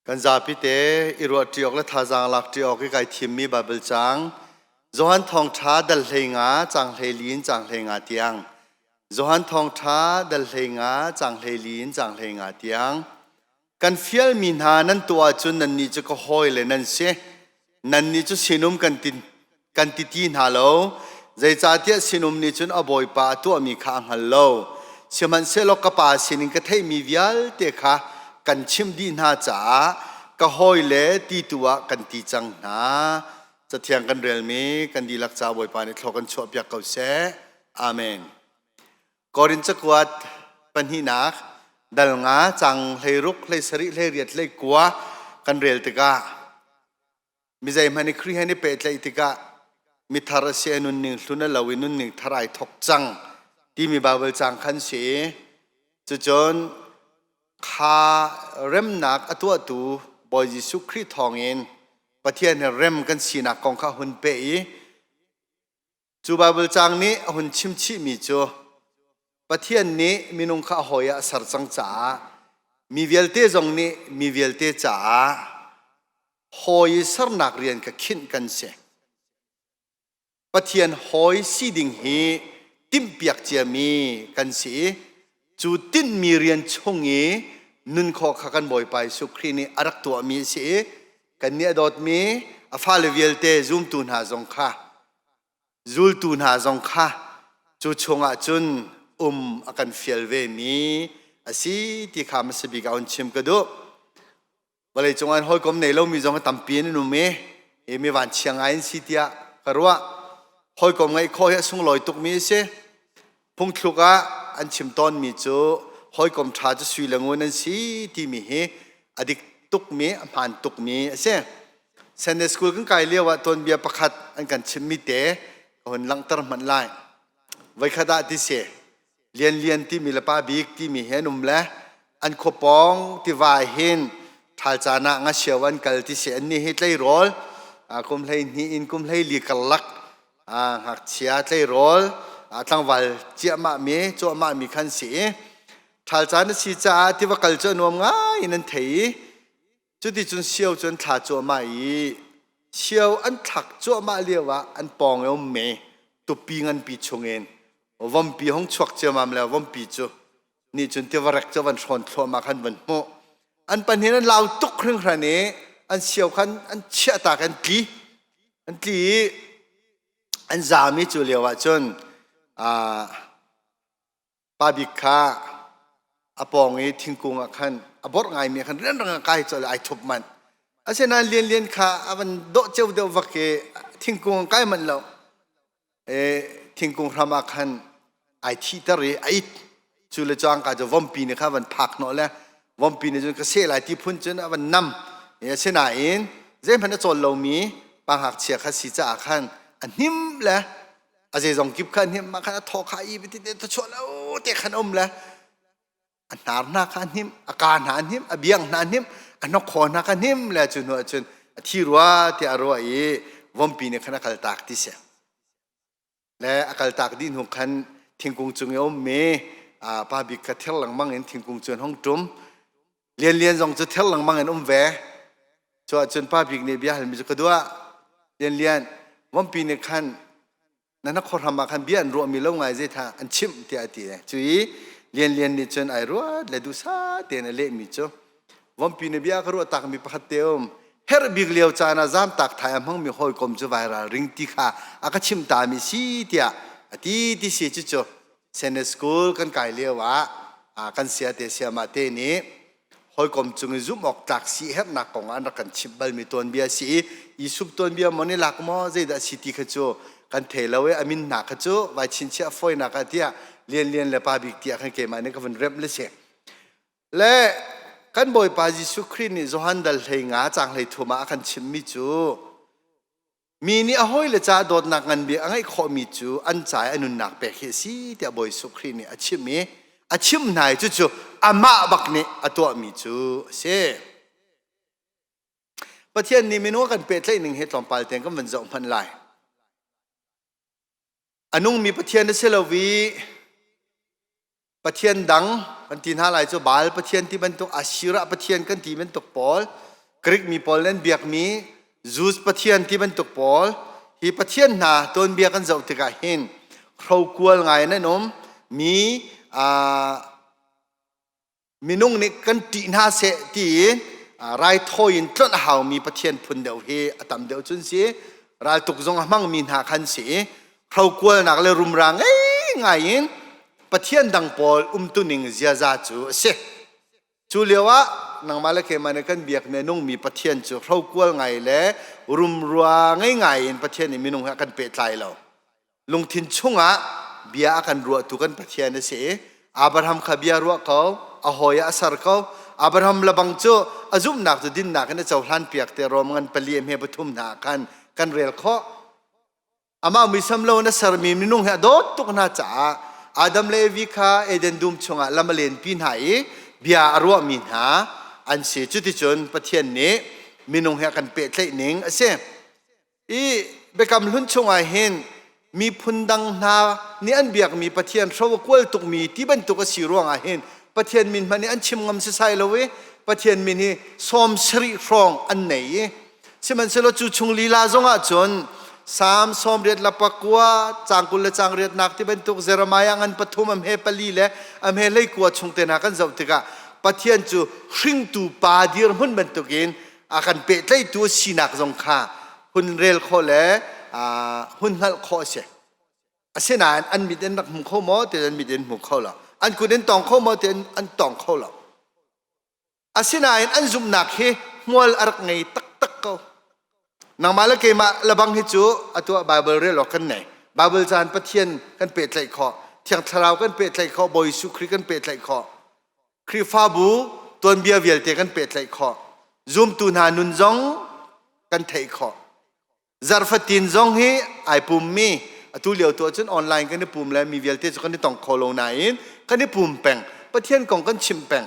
Kan zapite i ruahṭi awk le thazaang lakṭi awk i kai thimmi Baibal caang Johan Thawngṭha dal hlei nga caang hlei li in caang hlei nga tiang Johan Thawngṭha dal hlei nga caang hlei li in caang hlei nga tiang kan fialmi hna nan tuah ahcun nannih cu ka hawi le nan si. nannih cu sinum kan ti kan ti ti hna lo zeicahtiah sinum nih cun a bawipa a tuahmi kha a hngal lo sihmanhsehlaw ka pa sinin ka theihmi vialte kha kan chimh dih hna caah ka hawi le ti tu ah kan ti cang hna cathiang kan relmi kan dihlak ca bawipa nih thlua kan chuahpiak ko seh amen Korin cakuat pahnihnak dal nga cang hlei ruk hlei sarih hlei riat hlei kua kan rel tikah mizei hmanh i Khrih he ni pehtlaih tikah mithar a si i nunning hlun a lo i nunning thar ai thok cang timi Baibal caang khan si i cucun kha remnak a tuahtu Bawi Jesuh Khrih thawngin Pathian he rem kan sinak kong kha hun peh i Cu Baibal caang nih a hun chimchihmi cu Pathian nih minung kha a hawi ah a ser cang caah mi vialte zong nih mi vialte caah hawi sernak rian ka khinh kan si. Pathian hawi si ding hi timhpiak ciami kan si i cu tinhmi rian chung i nunkhawh kha kan Bawipa Jesuh Khrih nih a rak tuahmi a si i kan nih a dawtmi a fale vialte zumtu hna zong kha zultu hna zong kha cu chungah cun um a kan fial vemi a si ti kha hmasabik ah hun chim ka duh. vawlei cungah hin hawikom nei lomi zong hi tampi an um i hi mi vanchia ngai an si tiah ka ruah hawikom ngeih khawh hi a sunglawi tukmi a si phungthluk ah an chim tawnmi cu hawikom ṭha cu sui le ngun an si timi hi a dik tukmi a hmaan tukmi a si Sunday school kan kai lio ah tuanbia pakhat an kan chimmi te ka hun langhter hmanh lai voikhat ah ti si Lian Lian timi le Pa Bik timi he an um le an khua pawng tiva hin thal caan ah nga sio an kal ti se an ni hi tleirawl kum hlei hnih in kum hlei li karlak ngakchia tleirawl tlangval ciahmah mi cuahmah mi khan si i thal caan a si caah tiva kal cu a nuam ngai in an thei i Cuticun sio cu an thla cuahmah i sio an thlak cuahmah lio ah an pawng i um me tupi nganpi chungin vompi hong chuak ciamam le vompi cu nih cun tivarek cu van hrawn thluahmah khan van hmuh an pahnih an lau tuk hringhran i an sio khan an chiah tak an tli an tli i an zaam i cu lio ah cun pa bik kha a pawng i thingkung ah khan a borh ngaimi ah khan rianrang ah kai colh ai thup manh asinain lianlian kha a van dawh ceu deuh vak i thingkung an kai manh lo e thingkung hram ah khan ai thihter i a it cu le cangka cu vompi nih kha van phak hnawh le vompi nih cun ka seh lai ti phun cun a van nam e asinain zeihmanh a cawl lomi pa ngakchia kha si caah khan a hnim le a zeizong kip khan hnim mah khan a thaw kha i bitin te chuah lo te khan um le a hnar hna kha hnim a ka hna hnim a biang hna hnim a nok kho hna kha hnim le cu hnu ahcun a thi rua ti a ruah i vompi nih khan a kal tak ti siang le a kal tak dih hnu khan thingkung cung i a um mi pa bik kha thir lengmang in thingkung cu an hong tum Lian Lian zong cu ther lengmang in um ve. Cu ahcun Pa Bik nih bia halmi cu ka duah. Lian Lian, Vampi nih khan na hnakhor hram ah khan bia an ruahmi lo ngai zeitha an chimh tiah a ti. Cu i Lian Lian nih cun ai ruat le duhsah tein a lehmi cu Vampi nih bia ka ruah takmi pakhat te a um. Herh bik lio caan ah zaamtak thai a hmangmi hawikom cu vairal ring ti kha a ka chimh tami si tiah a ti ti si cucu Senate School kan kai lio ah kan sia te siamah te nih hawikom cung i zumh awk tlak si herhnak kong ah an rak kan chimh balmi tuanbia si i i sup tuanbia maw ni lak maw zeidah si ti kha cu kan thei lo i a min hna kha cu vai chinchiah foinak ah tiah lian lian le pa bik tiah khan keimah nih ka vun remh le si le kan bawipa jesuh khrih nih johan dal hlei nga cang hlei thum ah a kan chimmi cu Mi nih a hawile caah dawtnak nganbia a ngeih khawhmi cu an ca i a nunnak pek hi a si tiah Bawi Jesuh Khrih nih a chimh i a chimh hna i cucu amah bak nih a tuahmi cu a si. Pathian nih minung a kan pehtlaih ning hi tlawmpal tein kan van zoh hmanh lai. A nungmi Pathian a si lo i Pathian dang kan ti hna lai cu Baal pathian ti bantuk Asirah pathian kan ti bantuk pawl Greek mi pawl nan biakmi Jews pathian ti bantuk pawl hi pathian hna tuanbia kan zoh tikah hin hrokual ngai nan um mi minung nih kan ṭih hna seh ti raithawi in tlawnh a haumi pathian phun deuh hi a tam deuh cun si raltuk zong a hmangmi hna khan si Hrokualnak le rumra ngei ngai in Pathian dang pawl umtuning ziaza cu a si. Cu lio ah nangmah le keimah nih kan biak minungmi Pathian cu hrokual ngai le rumrua ngei ngai in Pathian nih minung he a kan pehtlai lo. Lungthin chungah bia a kan ruahtu kan Pathian a si i Abraham kha bia ruah ko, a hawi ah a ser ko. Abraham lebang cu a zumhnak cu dinnak in a cohlan piak te Rom ngan pali a hme pathum hna ah khan kan rel khawh. amah muisam lo na sermi minung he dawt tuk hna caah Adam le Evi kha Eden dum chungah lam a lenpi hna i bia a ruahmi hna an si. Cuticun Pathian nih minung he a kan pehtlaih ning a si. I biakam hlun chungah hin miphun dang hna nih an biakmi Pathian hro a kual tukmi ti bantuk a si ruangah hin Pathian min hmanh nih an chim ngam sisai lo i Pathian min hi sawm sarih hrawng an nei i Sihmanhsehlaw cu chung lila zongah cun Psalm sawmriat le pakua, cang kul le cang riatnak ti bantuk Jeremiah ngan pathum amhe pali le amhe leikua chung te hna kan zoh tikah Pathian cu hringtu pa dirhmun bantukin a kan pehtlaihtu a sinak zong kha hun rel khawh le hun hngalh khawh a si. Asinain an mit in rak hmu kho maw ti an mit in hmu kho lo. An kut in tong kho maw ti an tong kho lo. Asinain an zumhnak hi hmual a rak ngei taktak ko. Nangmah le keimah labang hi cu atu ah Bible rel awk kan nei. Bible caan Pathian kan pehtlaih khawh. Thiang Thlarau kan pehtlaih khawh. Bawi Jesuh Khrih kan pehtlaih khawh. Khrihfabu tuanbia vialte kan pehtlaih khawh. Zumtu hna nun zong kan theih khawh. Zarfatin zong hi ai pummi atu lio tu ahcun online kan i pum le mi vialte cu kan i tong kho lo nain kan i pum peng Pathian kong kan chimh peng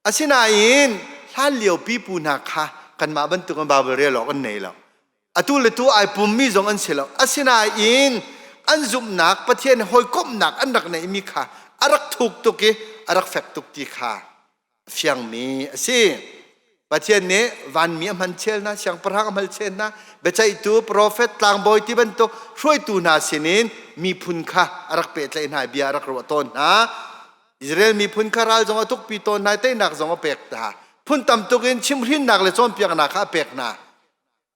asinain hlan lio pipu hna kha kanmah bantuk in Bible rel awk an nei lo atu le tu ai pummi zong an si lo asinain an zumhnak Pathian hawikomhnak an rak neihmi kha a rak thuk tuk i a rak fek tuk ti kha fiangmi a si pathian nih vanmi a hman chel hna siangpahrang a hmal chel hna biaceihtu profet tlangbawi ti bantuk hruaitu hna sinin miphun kha a rak pehtlaih hna bia a rak ruah tawn hna Israel miphun kha ral zong a thukpi tawn hna teinak zong a pek hna phun tam tukin chimhrinnak le cawnpiaknak kha a pek hna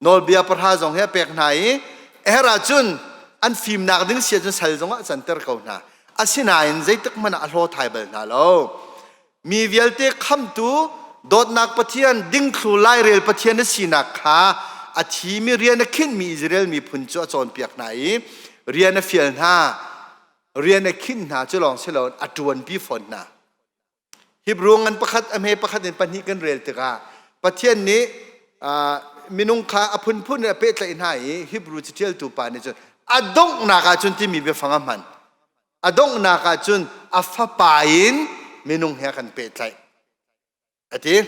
nawlbia pahra zong he pek hna i a her ahcun an fimnak ding sia cun sal zongah canter ko hna asinain zeitik hmanh ah a hlaw thai bal hna lo mi vialte khamtu dawtnak pathian dingthlu lairel pathian na sinak kha a thimi rian a khinhmi Israel miphun cu a cawnpiak hna i rian a fial hna rian a khinh hna cu lawng si lo a ṭuanpi fawn hna Hebrew ngan pakhat a hme pakhat in pahnih kan rel tikah Pathian nih minung kha a phunphun in a pehtlaih hna i Hebrew catialtu pa nih cun a donghnak ah cun timi biafang a hman. A donghnak ah cun a fapa in minung he a kan pehtlaih. A ti.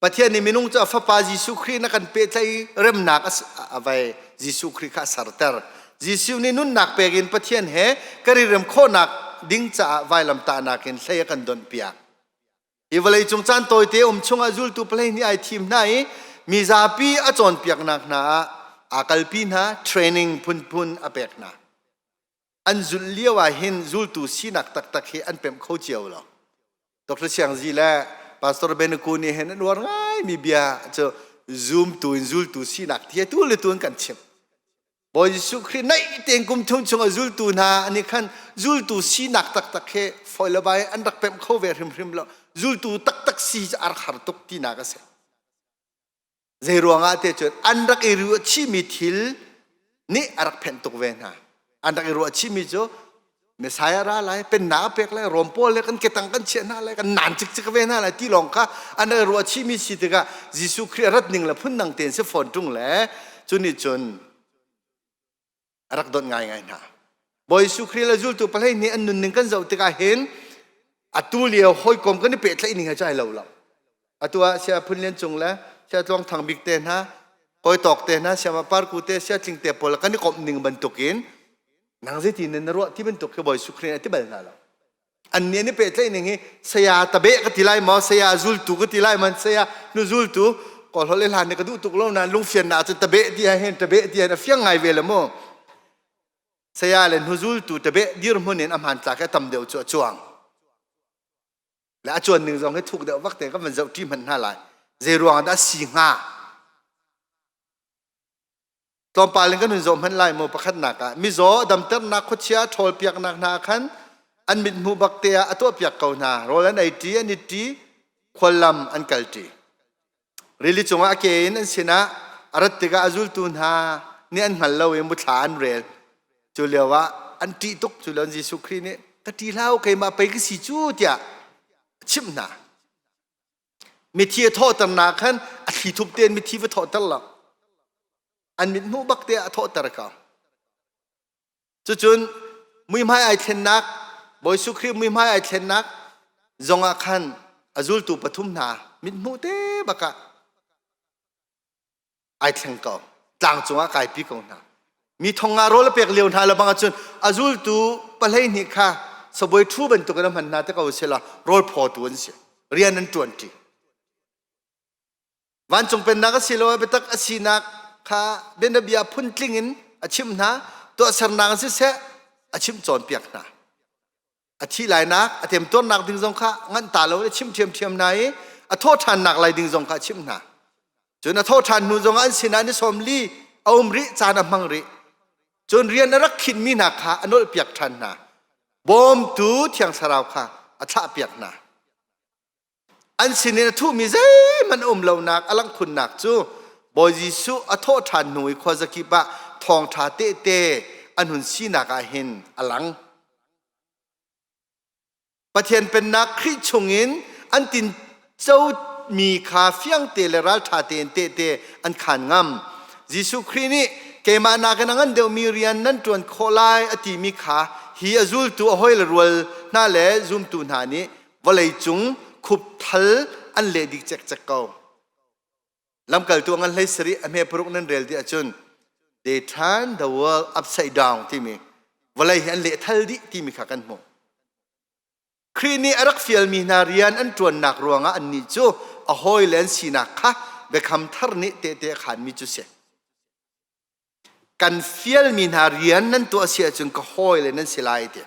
Pathian nih minung cu a fapa Jesuh Khrih na kan pehtlaih remnak a vai Jesuh Khrih kha a serter. Jesuh nih nunnak pek in Pathian he kan i rem khawhnak ding caah vailamtahnak in hlei a kan donh piak. Hi vawleicung caan tawite um chungah zultu pahleihnih ai thim hna i mi zapi a cawnpiaknak hna ah aa kalpi hna, training phunphun a pek hna. an zulh lio ah hin zultu sinak taktak hi an pemh kho cio lo. Dr. Siangzi le Pastor Benaku nih hin an uar ngaimi bia cu zumtu in zultu sinak ti hi tu le tu an kan chimh. Bawi Jesuh Khrih naih tein kum thum chung a zultu hna an i khan zultu sinak taktak he foi le vai an rak pemh kho ve hrimhrim lo. Zultu taktak si cu a rak har tuk tinak a si. Zeiruangah te cun an rak i ruah chihmi thil nih a rak phenh tuk ve hna. An rak i ruah chihmi cu Messiah ra lai, pennak a pek lai, Rom pawl le kan ketang kan chiah hna lai, kan nan cikcik ve hna lai ti lawng kha an rak i ruah chihmi si tikah Jesuh Khrih a rat ning le phundang tein si fawn ṭung le cu nih cun a rak don ngaingai hna bawi su kri le zultu palei nih an nun ning kan zoh tikah hin atu lio hawikom kan i pehtlaih ning ca ai lo lo atu ah sia phun lian cung le sia tluang thang bik te hna hoi tawk te hna sia par ku te sia tling te pawl kan i komh ning bantukin nang zeitin na ruah ti bantuk khi bawi su kri a ti bal hna lo an nih nih pehtlaihning hi saya tabeh ka ti lai maw saya zultu ka ti lai man saya nu zultu ko hlol le hlan ne ka duh tuk lo na lungfian na cun tabeh ti ha hen tabeh ti ha na fiang ngai ve le mu saya le nu zultu tabeh dir mun in aman tlak he tam deu chu a chuang le a chuan ning zong hi thuk deu vak te ka man zau ti man hna lai zei ruang da si nga tlawmpal in kan hun zoh hmanh lai maw pakhatnak ah mizaw damternak khuachia ṭhawl piaknak hna khan an mithmu bak te ah a tuah piak ko hna rawl an ei ṭi an it ṭi khuallam an kal ṭi rili cungah a ke in an sinah a rat tikah a zultu hna nih an hngal lo i muthla an rel cu lio ah an ṭih tuk cu lio Jesuh Khrih nih ka ṭi hlah u keimah pei ka si cu tiah a chimh hna mithi a thawhternak khan a thlithup tein mithi va thawhter lo an mit hnuh bak te ah a thawhter ko cucun muihmai ai thlennak bawi Jesuh Khrih muihmai ai thlennak zongah khan a zultu pathum hna mit hmuh te bakah ai thleng ko tlang cungah kaipi ko hna mi thong nga rawl a pek lio hna le bang ahcun a zultu pahlei nih kha sabuai ṭhu bantuk in a hman hna te ko sehla rawl phawtu an si rian an ṭuanṭi vancung pennak a si lo biatak a sinak kha bianabia phun tling in a chim hna tuahsernak a si seh a chim cawnpiak hna a thih lainak a temtuarnak ding zong kha nganh ta lo i chim ṭhiamṭhiam hna i a thawh ṭhannak lai ding zong kha a chimh hna cun a thawh ṭhan hnu zongah an sinah ni sawm li a um rih caan a hmang rih cun rian a rak khinhmi hna kha a nolhpiak ṭhan hna bawmtu thiang thlarau kha a thlahpiak hna an sinin a thuhmi zeihmanh a um lonak a langkhunnak cu Bawi Jesuh a thawh ṭhan hnu i khua zakip ah thawngṭha tehte an hun sinak ah hin a lang. Pathian Pennak Khrih chungin an tincomi kha fiangte le ralṭha tein tehte an khan ngam. Jesuh Khrih nih keimah nakin a ngan deuhmi rian nan ṭuan khawh lai a timi kha hi a zultu a hawile rual hna le zumtu hna nih vawleicung khupthal an leh dik cekcek ko lamkaltu ngan hlei sari a hme paruk nan rel dih ahcun they turn the world upside down timi vawlei hi an leh thal dih timi kha kan hmuh Khrih nih a rak fialmi hna rian an ṭuannak ruangah annih cu a hawile an sinak kha biakam thar nih tehte a khanmi cu si kan fialmi hna rian nan tuah si ahcun ka hawile nan si lai ti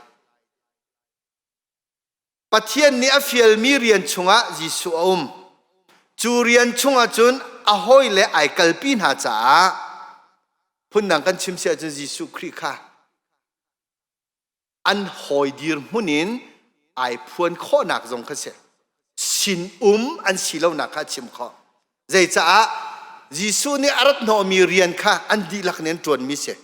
Pathian nih a fialmi rian chungah Jesuh a um. Cu rian chungah cun a hawile ai kalpi hna caah phundang kan chim si ahcun Jesuh Khrih kha an hawi dirhmun in ai phuan khawhnak zong kha si. Sinum an si lonak kha a chim khawh. Zeicaah Jesuh nih a rat hnawhmi rian kha an dihlak nih an ṭuanmi a si.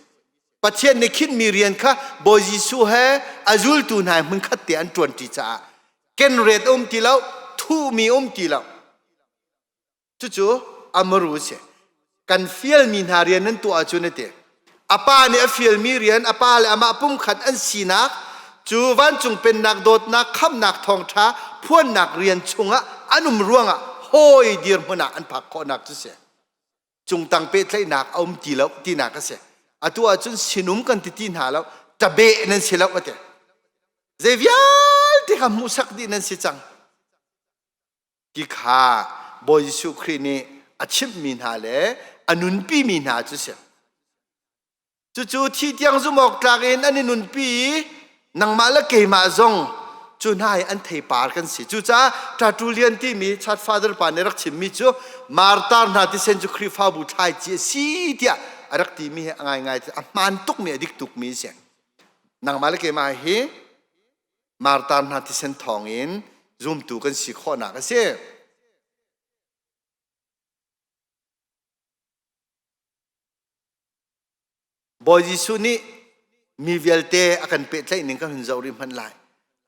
Pathian nih khinhmi rian kha Bawi Jesuh he a zultu hna he hmunkhat te an ṭuanṭi caah kenret a um ti lo, thuhmi a um ti lo. Cucu a maru a si. Kan fialmi hna rian nan tuah ahcun a ti, A pa nih a fialmi rian a pa le amah pumkhat an sinak cu vancung pennak dawtnak khamnak thawngṭha phuannak rian chungah an um ruangah hawi dirhmun ah an phak khawhnak cu si. Cungtang pehtlaihnak a um ti lo tinak a si. Atu ahcun sinum kan ti ti hna lo, tabeh nan si lo a ti. Zei vialte kha hmuhsak dih nan si cang. ti kha Bawi Jesuh Khrih nih a chimhmi hna le a nunpimi hna cu si. Cucu thi tiang zumh awk tlak in an i nunpi i nangmah le keimah zong cu hna hi an theipar kan si. Cucaah Ṭatu Lian timi Church Father pa nih rak chimmi cu Martar hna tisen cu Khrihfabu thlaici a si tiah a rak timi hi a ngaingai a hmaan tukmi a dik tukmi a si. Nangmah le keimah hi Martar hna thisen thawngin zumtu kan si khawhnak a si. Bawi Jesuh nih mi vialte a kan pehtlaih ning kan hun zoh rih hmanh lai.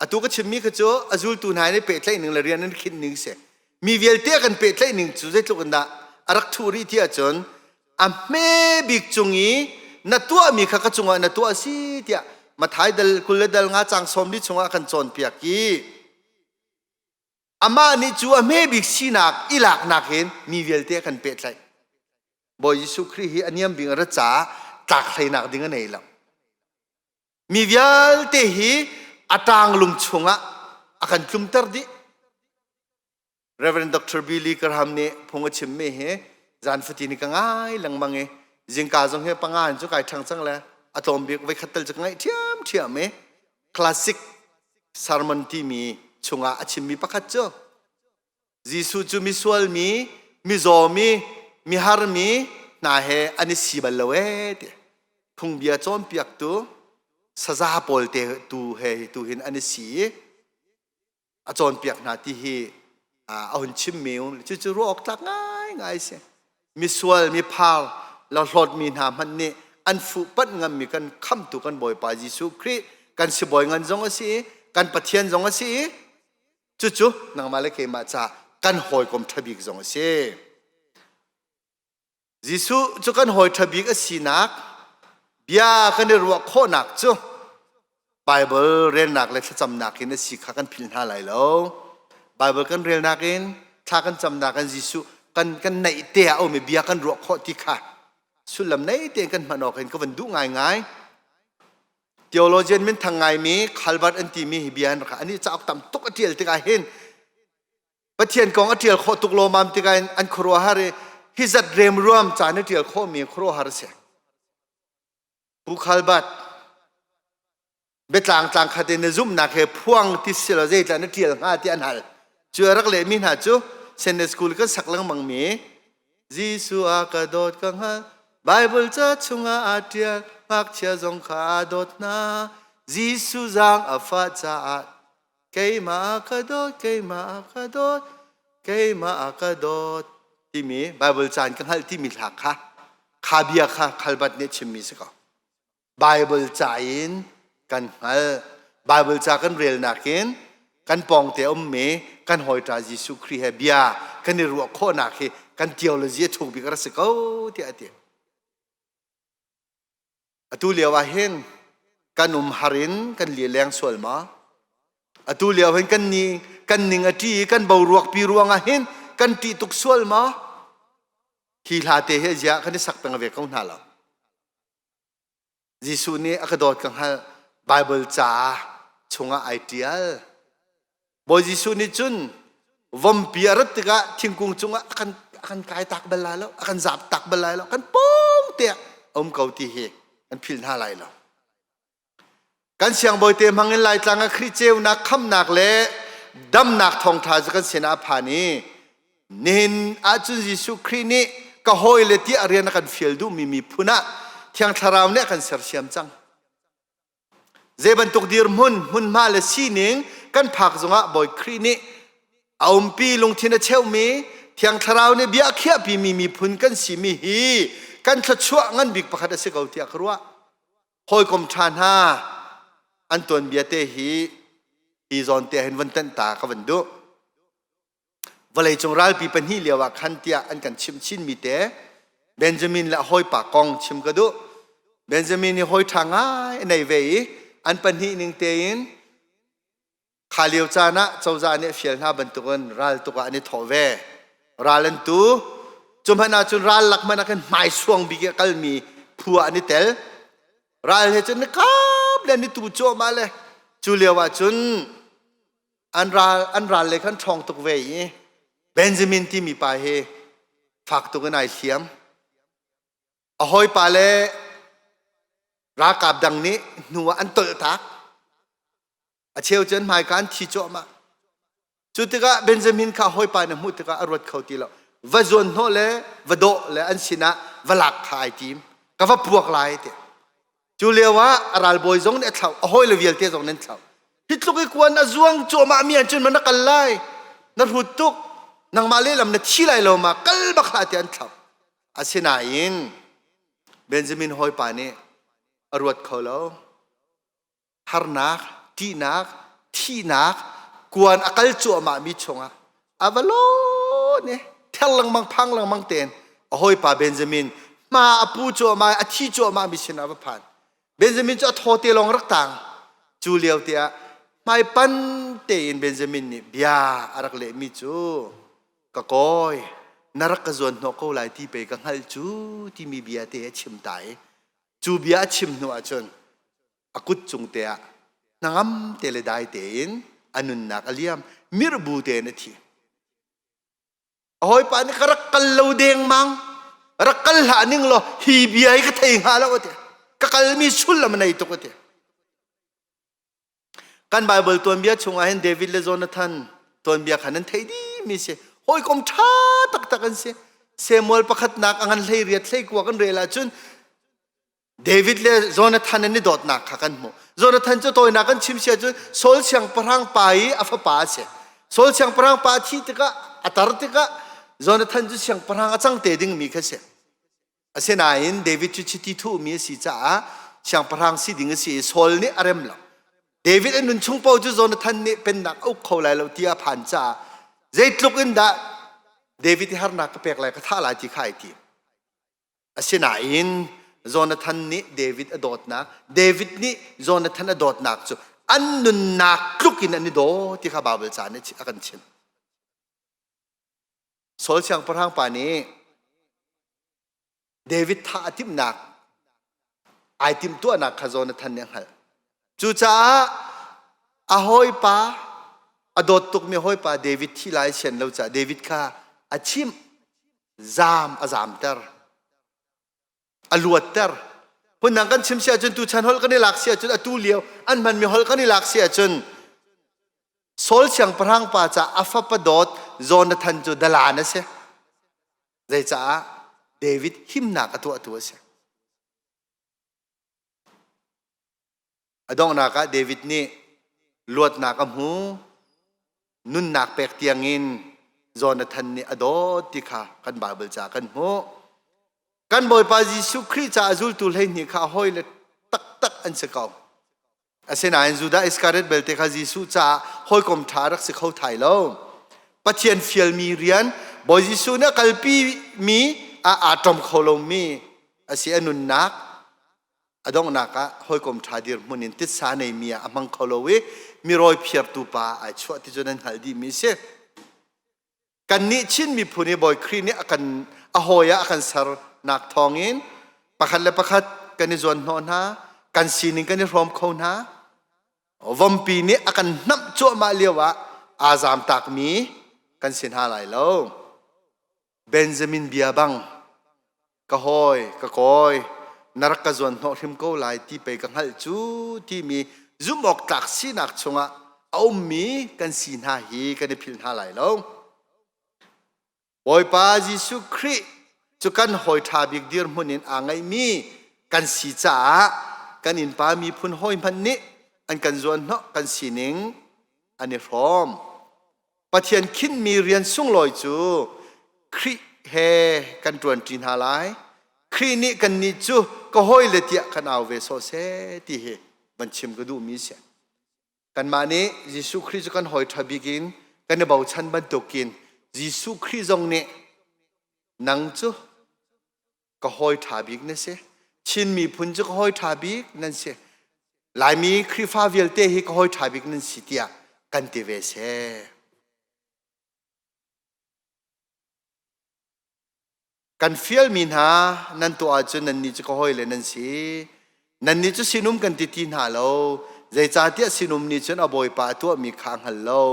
Atu ka chimmi kha cu a zultu hna nih pehtlaih ning le rian an khinh ning a si. Mi vialte a kan pehtlaih ning cu zeitluk in dah a rak thuh rih ti ahcun a hme bik cung i na tuahmi kha ka cungah na tuah si tiah Mathai dal kul le dal nga cang sawmli chungah kan cawnpiak i amah nih cu a hme bik sinak i laknak hin mi vialte kan pehtlaih Bawi Jesuh Khrih hi a niam bik ra ca tlak hleinak ding a nei lo mi vialte hi a tang lung chungah a kan tlumter dih Reverend Dr. Billy Graham nih phung a chimmi hi zan fatin ka ngai lengmang i zingka zong hi panga in cu kai ṭhang cang le a tlawm bik voi khat tal cu ka ngaih ṭhiamṭhiam i classic sermon timi chungah a chimmi pakhat cu Jesuh cu misual mi, mizaw mi, mihar mi hna he an i si bal lo ee ti phungbia cawnpiaktu saza pawl te tu he hi tu hin an i si i a cawnpiak hna ti hi a hun chimmi um cucu ruah awk tlak ngaingai si misual miphal lo hlawtmi hna hmanh nih an fuhpanh ngammi kan khamtu kan bawipa Jesuh Khrih kan sibawi ngan zong a si i kan pathian zong a si i cucu nangmah le keimah ca kan hawikom ṭhabik zong a si Jesuh cu kan hawi ṭha bik a sinak bia kan i ruah khawhnak cu Baibal relnak le thlacamnak in a si kha kan philh hna lai lo. Baibal kan relnak in thla kan camnak in Jesuh kan kan neih te ah a um i bia kan ruah khawh ti kha sullam nei tein kan hman awk in ka van duh ngaingai. Theologian minthang ngaimi Calvert an timi hi bia an rak an i cauk tam tuk a ṭial tikah hin Pathian kong a ṭial khawh tuk lawmam tikah in an khuaruahhar i hi zat remruam ca na ṭial khawhmi khuaruahhar a si. Bukhal bat biatlang tlang khat in na zumhnak he phuang ti si lo zeitlah na ṭial hnga ti an hal. Cu a rak lehmi hna cu Sunday school kan sak lengmangmi Jesuh a ka dawt ka hngal Bible ca chungah aa ṭial ngakchia zong kha aa dawt hna Jesuh zaang a fah caah Keimah ka dawt, keimah ka dawt, keimah ka dawt timi Baibal caan ka hngalh timi hla kha kha bia kha khalbat nih chimmi si ko. Baibal ca in kan hngalh. Baibal ca kan relnak in kan pawngte ummi kan hawita Jesuh Khrih he bia kan i ruah khawhnak hi kan theology a thuk bik a rak si ko tiah a ti. Atu lio ah hin kan um har in kan lileng sual ma? Atu lio hin kan ni kan ning a ṭi i kan boruakpi ruangah hin kan ṭih tuk sual ma? Hi hla te hi ziah kan i sak peng ve ko hna lo. Jesuh nih a ka dawt ka hngalh Bible caah chungah ai ṭial. Bawi Jesuh nih cun vompi a rat tikah thingkung cungah a kan a kan kai tak bal lai lo, a kan zap tak bal lai lo, kan pong te a um ko ti hi an phil hna lai lo. Kan siangbawi te hmangin Laitlang a Khrih ceunak khamnak le damnak thawngtha cu kan sinah a phan i nihin ahcun Jesuh Khrih nih ka hawi le tiah rian a kan fial duhmi miphun ah Thiang Thlarau nih a kan sersiam cang. Zei bantuk dirhmun, hmunhma le sining kan phak zongah Bawi Khrih nih a umpi lungthin a cheumi Thiang Thlarau nih bia a khiahpimi miphun kan simi hi kan thluachuah ngan bik pakhat a si ko tiah ka ruah. Hawikom ṭha hna, an tuanbia te hi hi zawn te hin van tanh ta ka van duh. vawleicung ralpi pahnih lio ah khan tiah an kan chim chinmi te Benjamin le a hawipa kong chim ka duh Benjamin hi hawi ṭha ngai a nei ve i an pahnih ning tein kha lio caan ah cozah nih a fial hna bantukin raltuk ah an i thawh ve ral an tu cu hmanh ahcun ral lak hmanh ah khan hmaisuang bik i a kalmi phu ah an i tel ral he cun ni kap le an i tu cuahmah le cu lio ah cun an ral an ral le khan ṭhawng tuk ve i Benjamin timi pa hi fak tuk in ai hliam a hawipa le ralkap dang nih hnu ah an tolh tak a cheu cu an hmaika an thi cuahmah cu tikah Benjamin kha hawipa na hmuh tikah a ruat kho ti lo va zuan hnawh le va dawh le an sinah va lak kha ai tim ka va puak lai tiah Cu lio ah a ralbawi zong nih a thlauh, a hawi le vialte zong nih an thlauh. Hi tluk i kuan a zuang cuahmah mi ahcun na kal lai, na hrut tuk, nangmah lehlam na thi lai lo ma, kal bak hlah tiah an thlauh. Asinain Benjamin hawipa nih a ruat kho lo. Harnak, ṭihnak, thihnak, kuan a kal cuahmah mi chungah ava lo ne thel lengmang phang lengmang ten a hawipa Benjamin ma a pu cu ma a thi cu ma mi sin ava phan Benjamin cu a thaw te lawng rak tang cu lio te ah hmai pan tein Benjamin nih bia a rak leh mi cu ka koi na rak ka zuan hnawh ko lai ti pei ka hngalh cu timi bia te a chim ta i cu bia a chim hnu ah cun a kut cung te ah hnangam te le dai te in a nunnak a liam mirbu tein a thi a hawipa nih ka rak kal lo dengmang rak kal hlah ning law hi bia hi ka thei hnga lo a ti ka kalmi sullam nei tuk a ti kan bible tuanbia chungah hin david le jonathan tuanbia khan an thei dimi si hawikom ṭha taktak an si samuel pakhatnak a ngan hlei riat hlei kua kan rel ahcun David le Jonathan an i dawtnak kha kan hmuh. Jonathan cu tawinak kan chim sia cu Saul siangpahrang pa i a fapa a si. Saul siangpahrang pa a thih tikah a tar tikah Jonathan cu siangpahrang a cang te dingmi kha si. Asinain David cu chiti thuhmi a si caah siangpahrang si ding a si i Saul nih a rem lo. David an nun chung paoh cu Jonathan nih pennak a uk kho lai lo ti a phan caah zeitluk in dah David i harnak ka pek lai ka thah lai ti kha ai ti. Asinain Jonathan nih David a dawtnak, David nih Jonathan a dawtnak cu an nunnak tluk in an i daw ti kha Baibal ca nih a kan chimh. Saul siangpahrang pa nih David thah a timhnak ai timtuahnak kha zawn a than nih a hngalh. Cucaah a hawipa a dawt tukmi hawipa David thi lai sian lo caah David kha a chimh. Zaam a zaamter. A luatter. Phundang kan chim si ahcun tuchan holh kan i lak si ahcun atu lio an hmanmi holh kan i lak si ahcun Saul siangpahrang pa ca a fapa dawt Jonathan cu dala na si. Zeicaah David himnak a tuahtu a si. A donghnak ah David nih luatnak a hmu. Nunnak pek tiang in Jonathan nih a dawt ti kha kan Bible caah kan hmuh. Kan Bawipa Jesuh Khrih caah zultu hleihnih kha hawile taktak an si ko. Asinain Judah Iskariot belte kha Jesuh caah hawikom ṭha rak si kho thai lo. Pathian fialmi rian Bawi Jesuh nih a kalpi mi ah aa ṭom kho lomi a si a nunnak a donghnak ah hawikom ṭha dirhmun in titsa neimi ah a hmang kho lo i mi rawi phiartu pa ai chuah ti cu nan hngalh dihmi a si. kannih Chin miphun hi Bawi Khrih nih a kan a hawi ah a kan sernak thawngin pakhat le pakhat kan i zuan hnawh hna kan sining kan i hrawm kho hna vompi nih a kan hnamh cuahmah lio ah aa zamtakmi kan si hna lai lo Benjamin bia bang ka hawi ka kawi na rak ka zuan hnawh hrim ko lai ti pei ka hngalh cu timi zumh awk tlak sinak chungah a ummi kan si hna hi kan i philh hna lai lo. Bawipa Jesuh Khrih cu kan hawi ṭha bik dirhmun in aa ngaihmi kan si caah kan innpa miphun hawi hmanh nih an kan zuan hnawh kan sining an i hrawm. Pathian khinhmi rian sunglawi cu Khrih he kan ṭuanṭi hna lai. Khrih nih kannih cu ka hawile tiah kan au ve sawh seh ti hi van chim ka duhmi a si. Kanmah nih Jesuh Khrih cu kan hawi ṭha bik in kan i bochan bantukin Jesuh Khrih zong nih nang cu ka hoi ṭha bik na si Chin miphun cu ka hoi ṭha bik nan si Laimi Khrihfa vialte hi ka hoi ṭha bik nan si tiah kan ti ve seh kan fialmi hna nan tuah ahcun nannih cu ka hoi le nan si Nannih cu sinum kan ti ti hna lo. Zeicahtiah sinum nih cun a bawipa a tuahmi kha a hngal lo.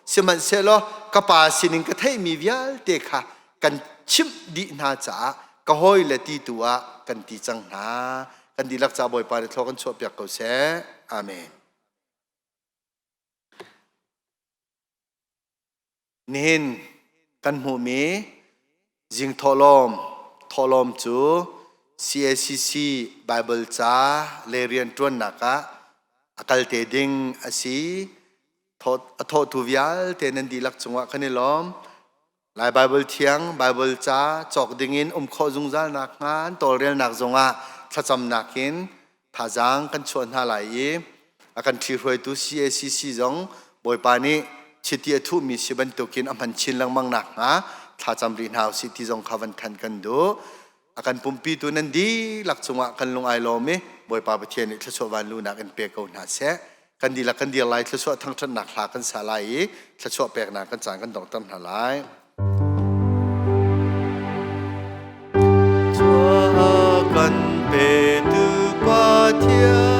Sihmanhsehlaw ka pa sinin ka theihmi vialte kha kan chimh dih hna caah ka hawi le ti tu ah kan ti cang hna. Kan dihlak ca bawipa nih thlua kan chuahpiak ko seh. Amen. Nihin kan hmuhmi zing thawhlawm thawhlawm cu CACC Baibal ca le rianṭuannak ah a kal te ding a si. A thawhtu vialte nan dihlak cungah kan i lawm. Lai Baibal thiang, Baibal ca cawk dingin um khawh zungzal nakhnga an tawlrelnak zongah thlacamnak in thazaang kan chuah hna lai i a kan ṭhi hruaitu CACC zong Bawipa nih chiti a thuhmi si bantukin a hman chin lengmang nakhnga thlacam rih hna u sih ti zong kha van khan kan duh. a kan pumpitu nan dihlak cungah kan lung ai lawm i Bawipa Pathian nih thluachuah van lu nak in pe ko hna seh kan dihlak kan dir lai thluachuah thangṭhatnak hla kan sa lai i thluachuah peknak kan caan kan dongter hna lai Chuah kan pe tu Pathian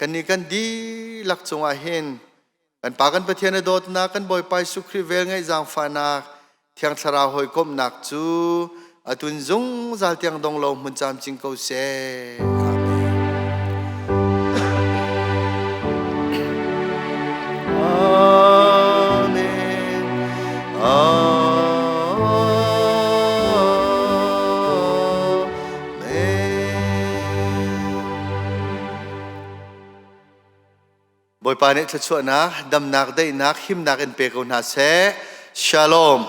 kan ni kan dihlak cungah hin kan pa kan pathian a dawtnak kan bawipa Jesuh Khrih vel ngaih zaangfahnak thiang thlarau hawikomhnak cu atun zungzal tiang dong lo hmun camcing ko seh Bawipa nih thluachuahnak, damnak, daihnak, himnak in pe ko hna seh. Shalom.